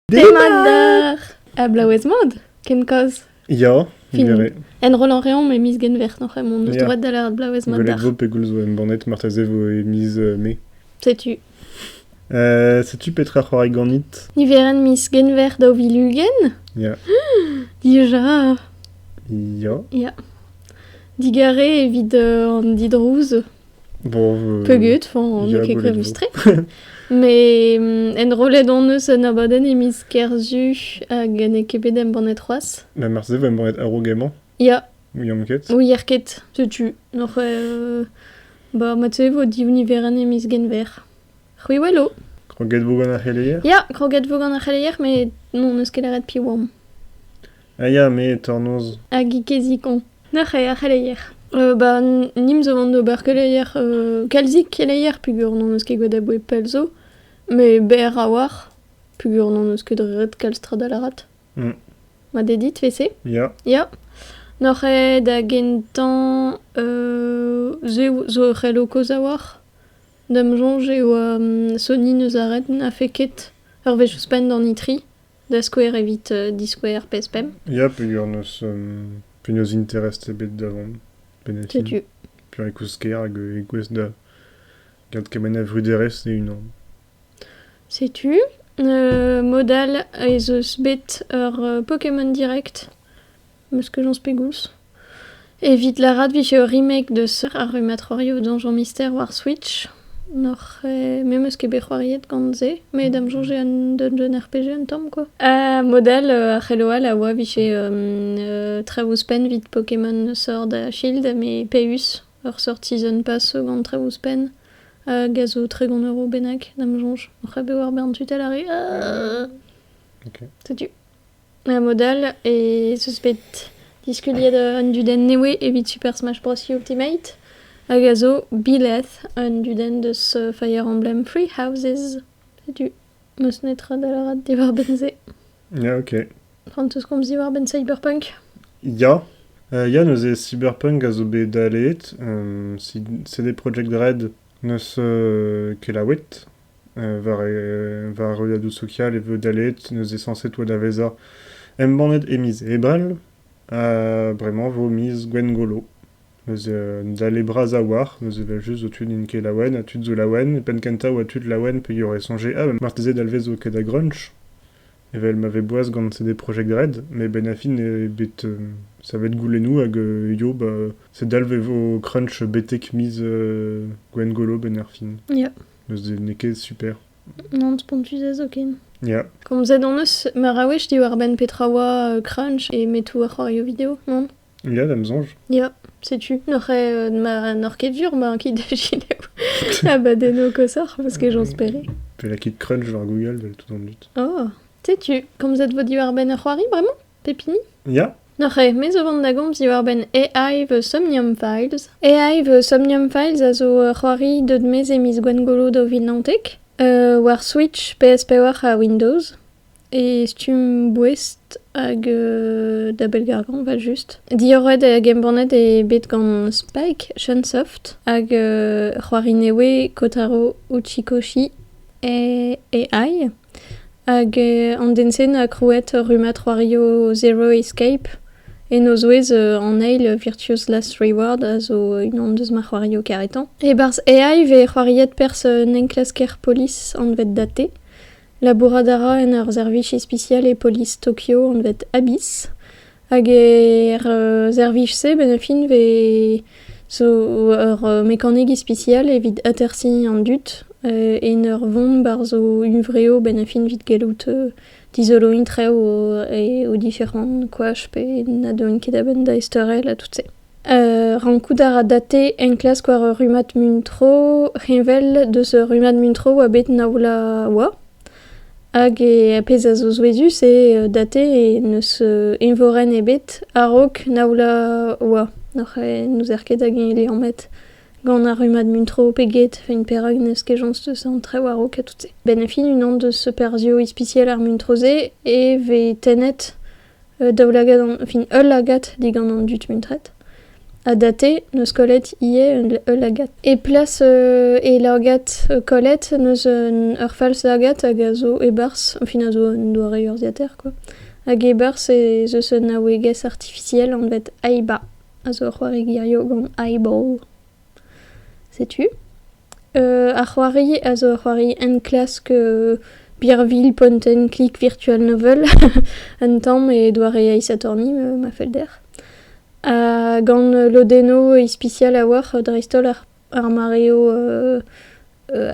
Demat d'ar ablaouez mod, ken koz. Ya, Fin. miré. Enrollañ reomp e miz Genver noc'h emaon, eus Ya. droit da lâret ablaouez mat Gwelet d'ar. vo pegoulz zo embannet marteze vo e miz euh, mai. Setu. Euh, setu petra c'hoari ganit Niverenn miz Genver daou vil ugent? Ya. Dija. Ya. Digarez evit euh, an didrouz Bon, Peugud, on n'eo ket koulz-tre. Mais mm, enrollet on eus un abadenn e miz Kerzu hag n'eo ket bet embannet c'hoazh. Na marse vo embannet a-raok emañ Ya, Ouiamp ket ouier ket, setu. Och, euh, ba, mat-se vo div niverenn e miz Genver. C'hwi welo Kroget vo gant ar c'heleier? Ya, kroget vo gant ar c'heleier, met non eus ket lâret piv oamp. Ah ya, me, tornoz. Hag i kezi koñ. Nac'h eo ar c'heleier. Euh, ba, nim zo vant d'ober keleier, euh, kalzik keleier peger n'hon eus ket gwelet aboe pell zo, met berr a-walc'h, peger n'hon eus ket ret kalz tra da lâret. Mm. Ma d'eo dit, fese? Ya. Ya. N'oc'h eo da gentañ euh, se zo ur c'hello kaoz a-walc'h. D'am soñj eo um, Sony neus aret, n'a fait ket ur wech ouzhpenn d'an itri. Da skouer evit diskouez ar pezh-pemp. Ya, penaos, penaos interest ebet da vont. Bennafi. Setu. Peurikouzh-kaer hag e-gouez da gant kement a vruderezh e-unan. Setu. mod all ez eus bet ur Pokémon Direct Meus kejañs pegoulz ? Evit lârat 'vije ur remake deus ar rummatrorioù Donjon Mister war Switch. N'oc'h ket... me 'meus ket bet c'hoariet gant se, met da'm soñj eo un dungeon RPG un tamm kwa. Ha mod-all a c'hello all a oa 'vije traoù ouzhpenn 'vit Pokémon Sword ha Shield met Peüs, ur seurt season pass zo gant traoù ouzhpenn hag a zo tregont euro bennak da'm soñj. Oc'h bet war bern tutal ar re. Setu. A-mod all ez eus bet diskuliet an dudenn nevez evit Super Smash Bros. Ultimate hag a zo Bileth, un dudenn deus Fire Emblem Three Houses. Setu n'eus netra da lâret diwar-benn-se. Ya, ok. Frances komz diwar-benn Cyberpunk? Ya. Uh, ya, neuze Cyberpunk a zo bet daleet. Um, si- c'est des Project Red n'eus uh, kelaouet. War ar ruadoù sokial e vo daleet neuze sañset oa da vezañ embannet e miz Ebrel ha bremañ vo miz Gwengolo. Neuze un dale bras a-walc'h, neuze evel-just zo tud n'int ket laouen ha tud zo laouen, e penn-kentañ oa tud laouen peogwir e soñje ah marteze Dalvez zo ket da Grunch evel ma vez boas gant CD Projekt Red met benn ar fin eo bet savet goulennoù hag yo ba se dalv e vo Crunch betek miz Gwengolo benn ar fin. n'eo ket super. Non, spontus ez eo ken. Ya. Komzet hon eus meur a wech diwar-benn petra oa euh, crunch e metou ar c'hoarioù-video, non Ya, d'am sonj. Ya, setu. N'oc'h euh, n'oc'h ket dur ma kit da gelaou abadenno koshoc'h, parce que j'espérais. Pe la kit crunch war Google, vel tout en dut. Oh, setu. Komzet vo diwar-benn ur c'hoari, bremañ Pep hini Ya? Neuze, me zo vont da gomz diwar-benn AI v Somnium Files. AI v Somnium Files a zo ur c'hoari deut maez e miz Gwengolo daou vil naontek euh, war Switch, PS4 ha Windows. E stumm boest hag euh, da bellgargañ evel-just. Diorroet hag embannet eo bet gant Spike Shunsoft hag euh, ur c'hoari nevez Kotaro Uchikoshi e AI. Hag an den-se 'noa krouet rummad c'hoarioù Zero Escape en o zouez an eil Virtuous Last Reward a zo unan deus ma c'hoarioù karetañ. E-barzh AI vez c'hoariet perzh un enklasker polis anvet Date. Labourat a ra en ur servij ispisial e polis Tokyo anvet Abyss. Hag er servij-se, benn ar fin, vez zo ur mekanik ispisial evit atersiñ an dud en ur vont barzh o huñvreoù benn ar fin evit gallout dizoloiñ traoù o diferant koach pe na deuent ket a-benn da ezteurel ha tout-se. Rankout a ra date enklask war ur rummad muntro heñvel deus ur rummad muntro oa bet na oa. Hag ar pezh a zo souezhus eo date n'eus eñvorenn ebet a-raok na oa oa n'oc'h n'ouzer ket hag-eñ e liammet gant ar rummad muntro pe get evit perak n'eus ket chañs deus an traoù a-raok ha tout-se. Benn fin unan deus perzhioù ispisial ar muntro-se e vez tennet Un daoulagad fin ul lagad digant an dud muntret ha date 'neus kollet ivez ul lagad. E plas e lagad kollet 'neus ur falslagad hag a zo e-barzh fin a zo un doare urzhiataer kwa hag e-barzh ez eus un naouegezh artifisiel anvet Aiba a zo ur c'hoari gearioù gant eyeball. Setu. ar c'hoari a zo ur c'hoari enklask Birvilh Point and Click Virtual Novel un tamm e doare aesatorni ma fell dec'h. Ha gant lodennoù ispisial a-walc'h dreist-holl ar mareoù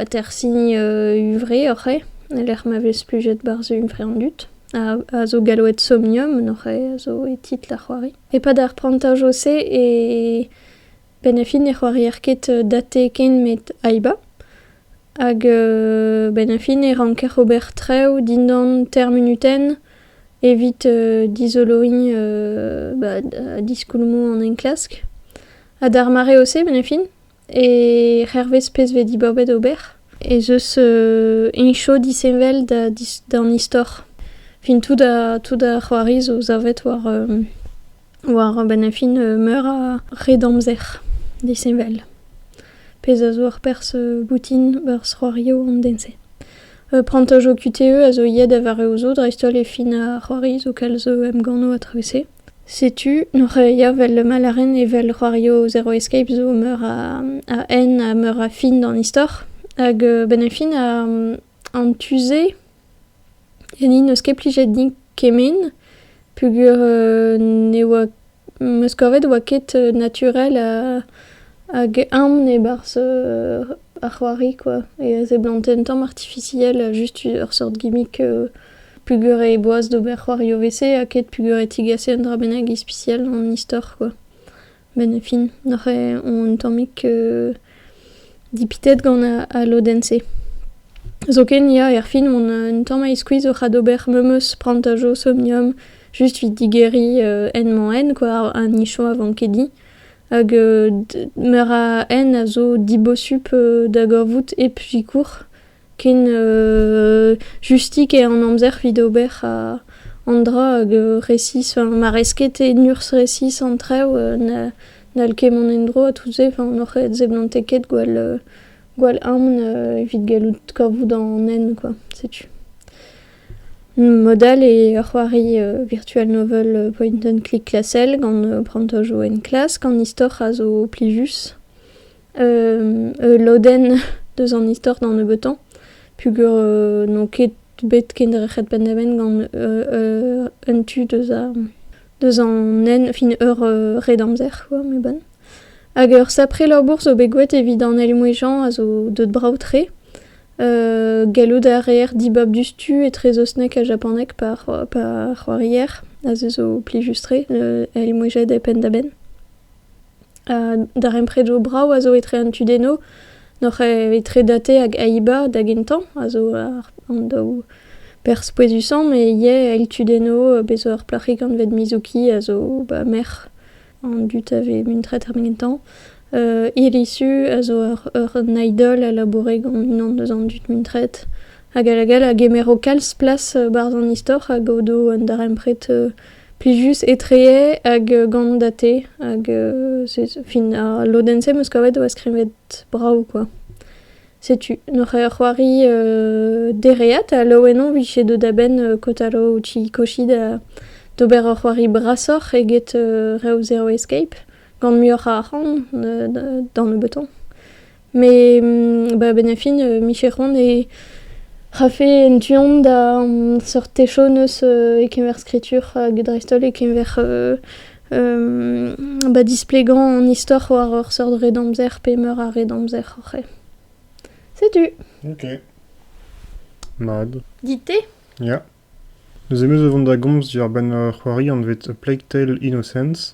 atersiñ huñvre oc'h eo, e-lec'h ma vez plujet barzh huñvre an dud. A zo gallaoued Somnium, a zo e titl ar c'hoari. E-pad ar prantajo-se e Bennafi ne c'hoarier ket Date ken met Aiba. Hag bennafi ne ranker ober traoù dindan teir munutenn evit dizoloiñ ba diskoulmoù an enklask. Ha d'ar mareoù-se bennafi, hervez pezh vez diborbet ober, ez eus heñcho disheñvel d'an istor. Fin tout ar c'hoari zo savet war War a-benn ar fin meur a red amzer disheñvel. Pezh a zo ur perzh boutin barzh c'hoarioù an den-se. Prantaj ho QTE a zo ivez da vareoù zo dreist-holl e fin ar c'hoari zo kalz emgannoù a-traoù-se. Setu n'oc'h ket avel ma lâren evel c'hoarioù Zero Escape zo meur a hent ha meur a fin d'an istor. Hag a-benn ar fin an tu-se Ganin n'eus ket plijet din kement peogwir ne oa am eus kavet oa ket naturel hag aon e-barzh ar c'hoari kwa e seblanten tamm artifisiel just ur seurt gimmick peogwir e boas d'ober c'hoarioù 'vese ha ket peogwir e tigasen un dra bennak ispisial an istor kwa. Benn e fin neuze on tammig dipitet gant al lodenn-se. Zoken ya, erfin on un tamm a-iskuizh oc'h adober memes prantaj Osomnium just 'vit digeriñ en-mañ-en kwa, ar nicho a vankedi. Hag meur a hent a zo dibosup da gorvout hep sikour. Ken justik eo an amzer evit ober an dra hag resis, ma rez ket en urzh resis an traoù n'hall ket mont en-dro ha tout-se, n'hoc'h seblantet ket gwall aon evit gallout kavout an hent kwa, setu. Mod all eo ur c'hoari virtual novel point and click klasel gant prantajoù enklask an istor a zo plijus. ul lodenn deus an istor d'an nebeutañ peogwir n'on ket bet kendrec'het penn-da-benn gant un tu deus deus an nen fin ur red amzer quoi mais bon hag ur sapre labour zo bet gouet evit an Elmouez-Jean a zo deut brav-tre gallout a reer dibab diouzhtu etrezosnek ha japanek par c'hoarier a se zo plijus-tre Elmouezed e penn-da-benn Darempredoù brav a zo etre an tudennoù, n'oc'h etre Date hag Aiba da gentañ a zo an daou perzh pouezusañ met ivez eil tudennoù, bez' zo ur plac'hig anvet Mizuki a zo ba merc'h an dud a vez muntret ar gentañ. Irisu a zo un idol a laboure gant unan eus an dud muntret hag all hag all a gemero kalz plas barzh an istor hag o do un darempred Plijus etree hag gant da te hag fin al lodenn-se 'm eus kavet e oa skrivet brav kwa. Setu n'oc'h ket ur c'hoari dereat ha laouen on 'vije deuet a-benn Kotaro Uchikoshi d'ober ur c'hoari brasoc'h eget reoù Zero Escape gant muioc'h a arc'hant da nebeutañ. Met ba benn ar fin e mije c'hoant e rafe en tu-hont da seurt chom eus e-keñver skritur hag dreist-holl e-keñver ba displegañ an istor war ur seurt redamzer pe meur a redamzer oc'h eo. Setu. Ok. Mat. Dit te? Ya. Neuze 'm eus o vont da gomz diwar-benn ur c'hoari anvet A Plague Tale Innocence.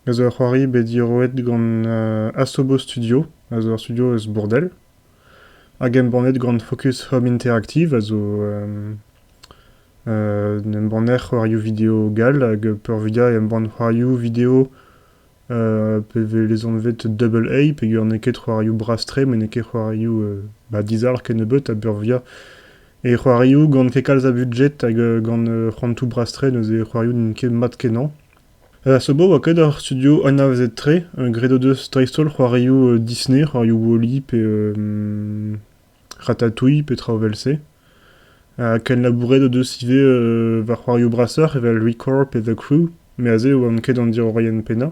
a zo ur c'hoari bet diroet gant Asobo Studio, a zo ur studio eus Bourdel, hag embannet gant Focus Home Interactive, a zo un embanner c'hoarioù video gall, hag peurvuiañ e embann c'hoarioù video pe vez lezanvet Double A, peger n'eo ket c'hoarioù bras-tre, met n'eo ket c'hoarioù ba dizalc'h kennebeut, ha peurvuiañ e c'hoarioù gant ket kalz a budjet hag gant c'hoantoù bras-tre, neuze c'hoarioù n'int ket mat-kenañ. Er Sabbo oa ket ar studio anavezet-tre, graet o deus dreist-holl c'hoarioù Disney, c'hoarioù Wall-E pe Ratatouille pe traoù evel-se. Ha kenlabouret o deus ivez war c'hoarioù brasoc'h evel Recorp pe The Crew, met aze e oamp ket an diorroienn pennañ.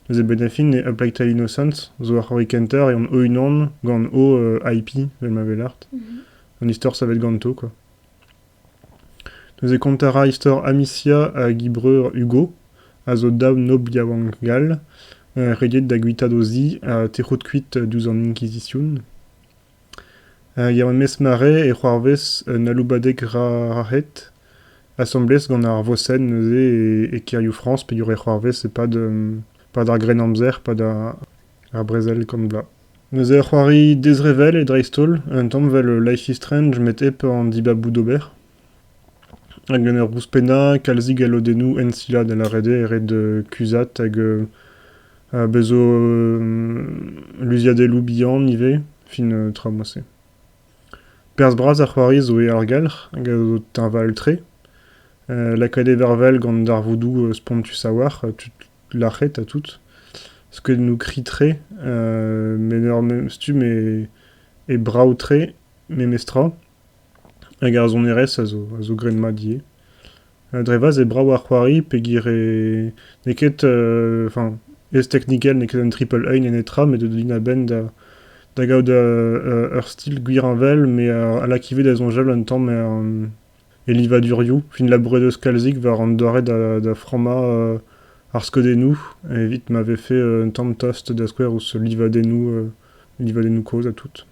Neuze Benefin e A Plague Tale Innocents zo ur c'hoari kentañ a reomp o-unan gant o IP, vel ma welart. An istor savet ganto, quoi. Neuze kontañ a ra istor Amicia hag he breur Hugo, a zo daou nobl yaouank gall, rediet da guitaat o zi ha tec'hout kuit diouzh an Inkizition. Yaouank maez mare e c'hoarvez un aloubadeg rac'het, asambles gant ar vosenn neuze e kêrioù Frañs peogwir e c'hoarvez e-pad ar Grennamzer, pad ar brezel, kant vloaz. Neuze ur c'hoari dezrevell e dreist-holl, un tamm 'vel Life is Strange met hep an dibaboù d'ober. Hag en ur ouzhpennañ kalzik a lodennoù ensilañ da lâret eo e red kuzhat hag bez zo luziadelloù bihan ivez, fin tra moa-se. Perzh bras ar c'hoari zo eo argelc'h hag a zo teñval-tre. lakaet e vervel gant darvoudoù spontus a-walc'h, lâret ha tout, parce que nous crie-très met ur memes stumm e brav-tre memestra, hag ar sonerezh a zo a zo graet-mat ivez. Dre vaz e brav ar c'hoari pegwir e n'eo ket enfin ez-teknikel n'eo ket un triple A nenetra met da dont a-benn da da gaout ur stil gwir-heñvel met a lak ivez da soñjal un tamm er E livadurioù, fin labouret eus kalzik war an doare da frammañ ar skeudennoù evit ma vefe un tamm tost da skouer ouzh livadennoù kozh ha tout.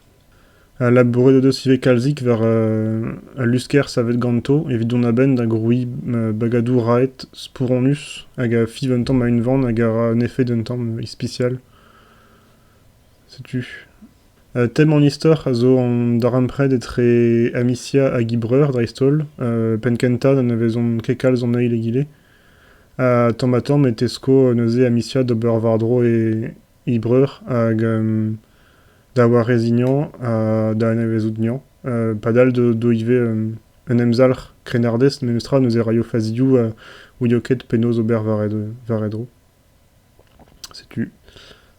Ha labouret o deus ivez kalzik war al lusker savet ganto evit dont a-benn da grouiñ bagadoù raet, spouronus hag a fiv un tamm a-unvan hag a ra un efed un tamm ispisial. Setu tem an istor a zo an darempred etre Amicia hag he breur dreist-holl. penn-kentañ da nevezont ket kalz an eil egile. Ha tamm-ha-tamm e tesko neuze Amicia d'ober war-dro he breur hag da wareziañ ha da anavezout Neañ. padal d'o ivez un emzalc'h krennardez memestra neuze raio fazioù ouio ket penaos ober war e dro. Setu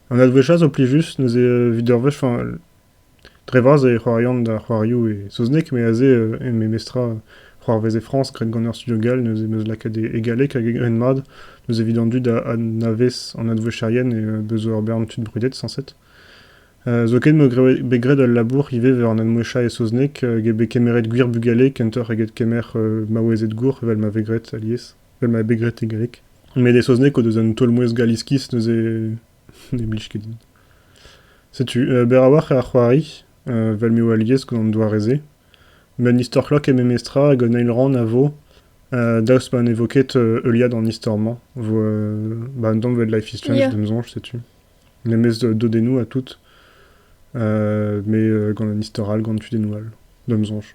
an holl wech all zo plijus neuze evit ur wech, enfin dre vras e c'hoarian da c'hoarioù e saozneg met aze e memestra c'hoarvez e Frañs graet gant ur studio gall neuze 'm eus lakaet e galleg hag ret-mat neuze evit an dud a anavez an advouezherien e beus ur bern tud brudet sañset. Zoken eo bet graet ul labour ivez war an admouezhañ e saozneg get bet kemeret gwir bugale kentoc'h eget kemer maouezed gour evel ma vez graet alies. Evel ma eo bet graet e greg. Met e saozneg o deus un taol-mouezh gall iskis neuze ne blij ket din. Setu, euh, berr a-walc'h ar c'hoari, euh, vel m'eo alies gant an doare-se. Met n'istor klok eo memestra hag un eil rann a vo, euh, daoust ma ne vo ket euh, heuliad an istor-mañ. Vo euh, ba un tamm 'vel Life is Strange, Yeah. d'am soñj, setu. Memes euh, dodennoù ha tout. Euh, mais euh, gant un istor all, gant tudennoù all, d'am soñj.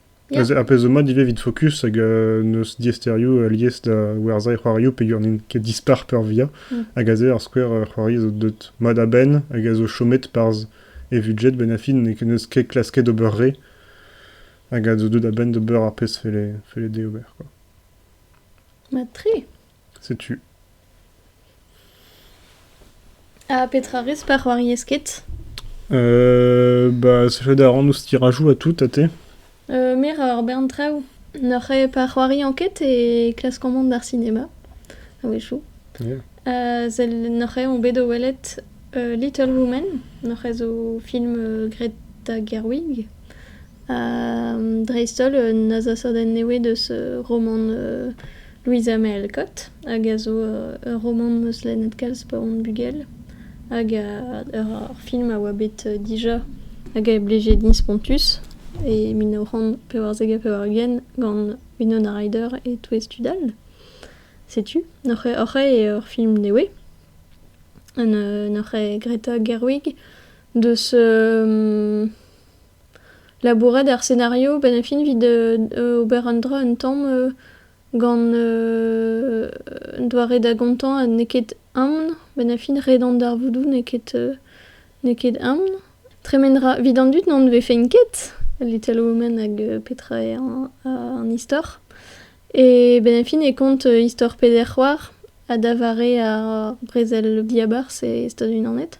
Ar pezh zo mat ivez evit Focus hag n'eus diaesterioù alies da werzhañ e c'hoarioù peogwir n'int ket dispar peurvia hag aze ar skouer c'hoari zo deuet mat a-benn hag a zo chomet parzh e vudjed benn ar fin n'eus ket klasket ober re hag a zo deuet a-benn d'ober ar pezh felle dezhe ober. Mat-tre! Setu. Ha petra 'rez pa c'hoariez ket? ba sevel a ran ouzh tirajoù ha tout, ha te? me 'ra ur bern traoù. N'oc'h eo pa c'hoariañ ket e klaskomp mont d'ar sinema a-wechoù. sell n'oc'h eo on bet o welet Little Women. N'oc'h eo zo film graet da Gerwig. Dreist-holl un azasadenn nevez deus romant Louisa May Alcott hag a zo ur romant 'm eus lennet kalz pa on bugel hag ur film a oa bet dija hag a blije din spontus e mil nav c'hant pevarzek ha pevar-ugent gant Winona Ryder e touez tud all. Setu, hoc'h eo ur film nevez n'hoc'h eo Greta Gerwig deus Labourat ar senario benn ar fin evit ober un dra un tamm gant un doare da gontañ ha n'eo ket aon. Benn ar fin ret an darvoudoù n'eo ket n'eo ket aon. Tremen 'ra evit an dud n'anvefent ket al Little Women hag petra eo an istor. E benn ar fin e kont istor peder c'hoar ha da vare ar brezel diabarzh e Stadoù-Unanet.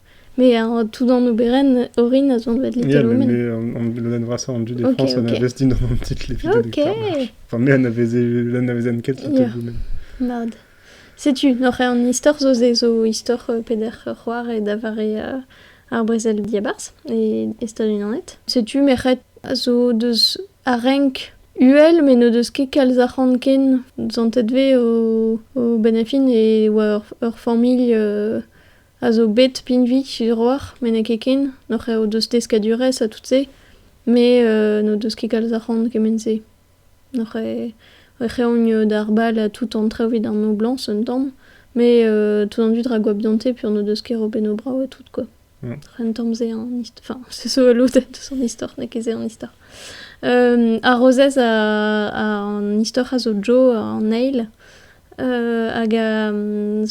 Mais un tout d'un oberenn orin a zo anvet Les Théorèmes. mais an lodenn vrasañ an dud e Ok, France on a ok. investi dans un petit clip vidéo de Ok. carnage. Enfin, mais anaveze- l'anavezen ket Yeah. ket Mad. Setu, oc'h an istor zo ze zo istor euh, peder c'hoar et da vare euh, ar brezel diabarzh e, e Stad-Unanet. Setu merc'hed a zo deus a renk uhel, met n'o deus ket kalz arc'hant ken zantet ve o, o benefin e oa ur, ur familh euh, a zo bet pinvidik sur-walc'h met n'eo ket ken hoc'h eo deus deskadurezh ha tout-se met n'o deus ket kalz arc'hant kement-se hoc'h eeun d'ar bal ha tout an traoù evit an noblañs un tamm met tout an dud ra goap dionte peogwir n'o deus ket robennoù brav ha tout quoi un tamm se an istor enfin se zo ul lodenn deus an istor n'eo ket se an istor ar rozez a an istor a zo Jo an eil hag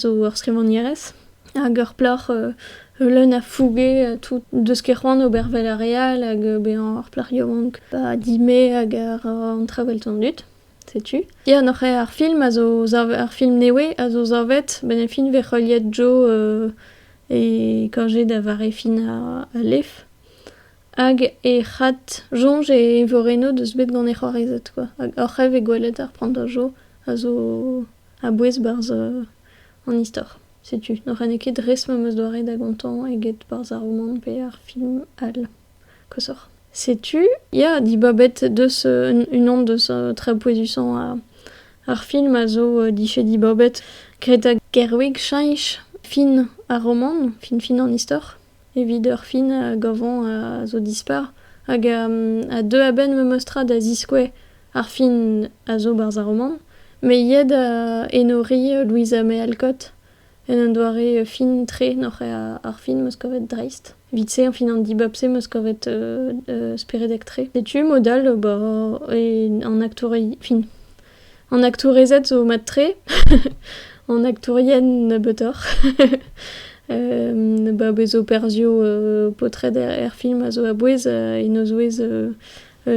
zo ur skrivagnerez hag ur plac'h leun a fouge tout deus ket c'hoant ober 'vel ar re all hag bezañ ur plac'h yaouank pa dime hag a ra an traoù 'vel tan dud setu. Ya noc'h eo ar film a zo savet ar film nevez a zo savet benn e fin 'vez heuliet Jo e Kañjer da vare fin al lef. Hag he c'had soñj e eñvorennoù deus bet gant he c'hoarezed kwa, hag oc'h eve gwelet ar prantajoù a zo a-bouez 'barzh an istor. Setu, n'oc'hane ket res ma 'm eus doare da gontañ eget 'barzh ar romant pe ar film all koshoc'h. Setu ya dibabet deus unan deus tra pouezusañ ar film a zo dije dibabet, graet da Gerwig Cheñch fin ar romant, fin-fin an istor. Evit ur fin gavañ a zo dispar hag a deu a-benn memes tra da ziskouez ar fin a zo barzh ar romant met ivez da enoriñ Louisa May Alcott en un doare fin-tre noc'h ar fin 'm eus kavet dreist. Evit-se fin an dibab-se 'm eus kavet speredek-tre. Setu mod all ober an aktourien fin. An aktourezed zo mat-tre, an aktourien nebeutoc'h. ba bez operzioù paotred er film a zo a-bouez, en o zouez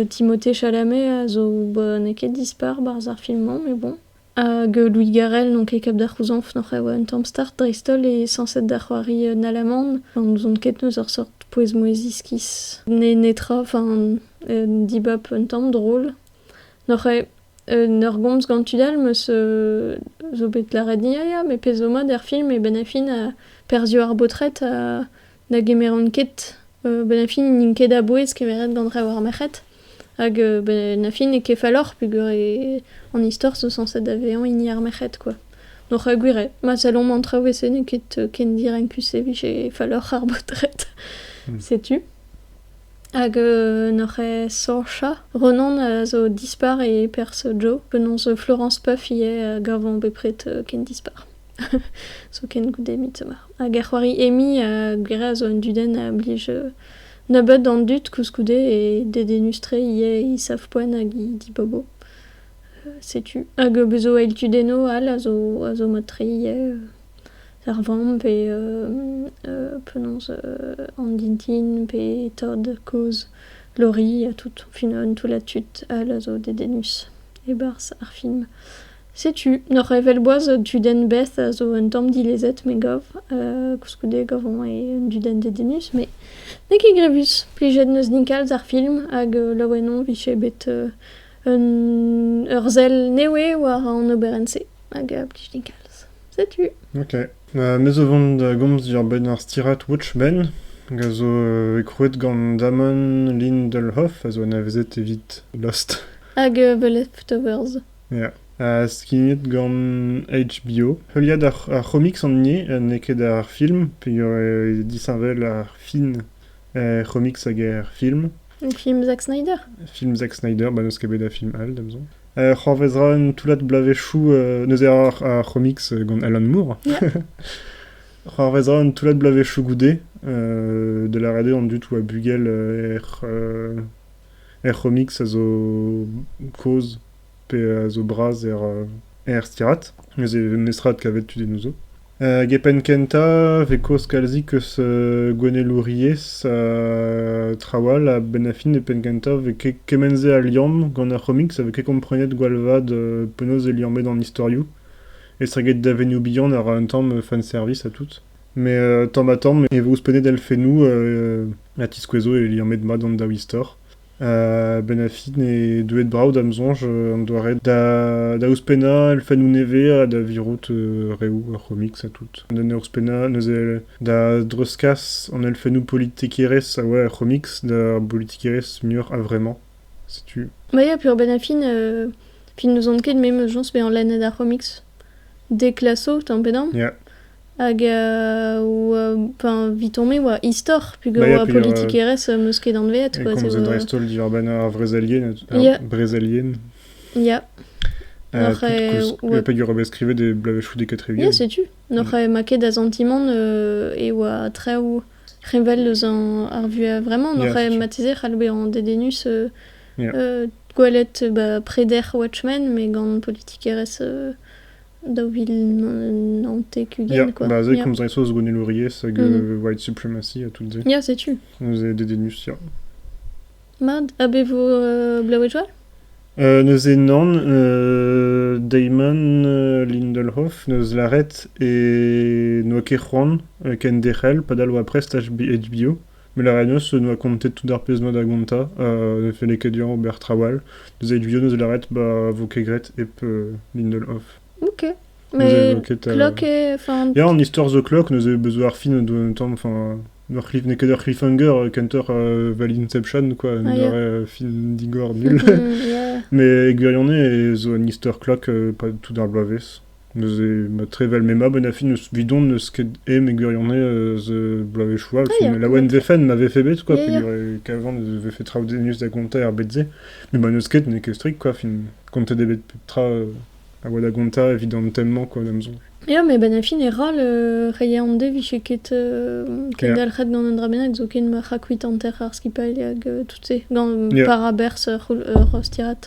Timothée Chalamet a zo ba n'eo ket dispar 'barzh ar film-mañ mais bon. Hag Louis Garrel n'on ket ket da c'houzañv noc'h e oa un tamm start dreist-holl e sañset da c'hoari un Alaman. N'ouzon ket eus ur seurt pouez-mouezh iskis. N'eo netra, enfin, un dibab un tamm drol. N'oc'h ket un ur gomz gant tud all 'm eus zo bet lâret ni a ya, met pezh zo mat er film eo ben e fin perzhioù ar baotred na gemeront ket ben e fin n'int ket a-bouez kemeret gant rev ar merc'hed hag ben a fin n'eo ket falloc'h peogwir an istor zo sañset da vezañ hini ar merc'hed kwa. N'oc'h ket gwir eo ma sellomp an traoù e-se n'eo ket ken direnkus e vije falloc'h ar baotred setu. Hag n'oc'h ket Saocha? Ronan a zo dispar e perzh Joe. Penaos Florence Puff ivez a gavan bepred ken dispar. Zoken goude Midsommar. Hag ar c'hoari Amy a gwir a zo un dudenn a blij nebeut an dud koulskoude e dedennus tre ivez he savpoent hag he dibobo. Setu. Hag bez' zo eil tudennoù all a zo a zo mat-tre ivez. Ar vamm pe penaos an dintin pe tad kozh Lori ha tout au final toullad tud all a zo dedennus e-barzh ar film. Setu n'oc'h evel boaz un tudenn Beth a zo un tamm dilezet me gav koulskoude gav oan un dudenn dedennus met n'eo ket grevus. Plijet 'neus din kalz ar film hag laouen on 'vije bet un ur sell nevez war an oberenn-se hag a blij din kalz. Setu. Ok. Euh, me zo vont da gomz diorbenn ar stirad Watchmen, hag a zo euh, krouet gant Damon Lindelhoff, a zo anavezet evit Lost. Hag euh, The Leftovers. Yeah. Uh, skignet gant HBO. Heuliad ar, ar c'homics an nie, euh, n'eo ket ar film, peogwir euh, disheñvel ar fin er c'homics hag er film. Film Zack Snyder Film Zack Snyder, bah, n'eus ket bet da film all, d'emzo. Euh, c'hoarvezra un toullad bloavezhioù euh, neuze ar, ar comics euh, gant Alan Moore. c'hoarvezra un toullad bloavezhioù goude euh, de la rede an dud oa bugel euh, er, euh, er comics a zo koz pe a zo bras er stirad. Neuze netra kavet tu dinouzho. Hag e penn kentañ vez kaoz kalzik eus gouennelouriezh trawal ha benn ar fin e penn kentañ vez kement-se a liamm gant ar c'homiks a vez ket komprenet gwall vat penaos eo liammet an istorioù estreget davenioù bihan a ra un tamm fanservice ha tout. Mais tamm-ha-tamm e vo ouzhpennet elfennoù ha tiskouezo e liammet mat an daou istor. Benafi n'eo deuet brav da'm soñj an doare da ouzhpennañ elfennoù nevez ha da virout reoù ar c'homics ha tout. Neuze ouzhpennañ neuze da dreuzkas an elfennoù politikerezh a oa er c'homics d'ar politikerezh muioc'h a-vremañ, setu. Ya, peogwir Benafi ne n'ouzon ket me 'm eus soñj bezañ lennet ar c'homics. Deklaso, tamm pe damm. Hag pa evitomp e oa istor pegoulz oa politikerezh 'm eus ket anvet. E komz dreist-holl diwar-benn ar vrezelien, ar brezelien. Ya. Pegoulz oa bet skrivet e bloavezhioù dek-ha-tri-ugent. Ya, setu. N'oc'h ma ket da santimant e oa traoù revel eus ar vuhez vremañ. N'oc'h marteze c'hall bezañ dedennus gwelet preder Watchmen, met gant politikerezh daou vil naontek-ugent quoi. Ba se komz 'ray so eus gouennelouriezh hag white supremacy ha tout se. Ya, setu. Neuze dedennus, ya. Mad. A be vo euh, blaouet-joa? Euh, neuze nan, euh, Damon euh, Lindelhoff neus lâret e n'oa ket c'hoant euh, ken derc'hel padal oa prest HBO. Melaraios en doa kontet tout ar pezh 'noa da gontañ, ha ne felle ket dezhañ ober traoù all. Neuze Eguion eus lâret ba 'vo ket graet hep Lindelof. Ok. Mais ket, euh, Clock et... Enfin... Ya, an istor The Clock, neuze bezo ar fin doa un tamm, enfin... ur cliff, n'eo ket ur cliffhanger kentoc'h uh, Valley Inception, quoi, un ah, doare yeah. film digor nul. yeah. Mais Eguion zo un istor clock uh, pas tout ar bloavezh. Neuze ma trevel me mab en afi n'eus vidon n'eus ket e mes gwirionez eus bloavezhioù all ah, ya. laouen vefen ma vefe bet quoi ya, peogwir kavan e vefe traoù denus da gontañ er bed-se mais bah n'eus ket n'eo ket strikt quoi fin kontet eo bet pep tra a oa da gontañ evit an tem-mañ quoi da'm soñj Ya, mais ben fin e roll, euh, rei an de vije ket euh, kendalc'het gant un dra bennak zoken ma c'hakuit hanter ar skipailh hag euh, tout se, gant par aberz ur rostirat.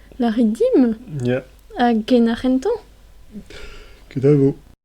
Lârit dimp. Ya. Hag ken arc'hentañ? Ket a vo.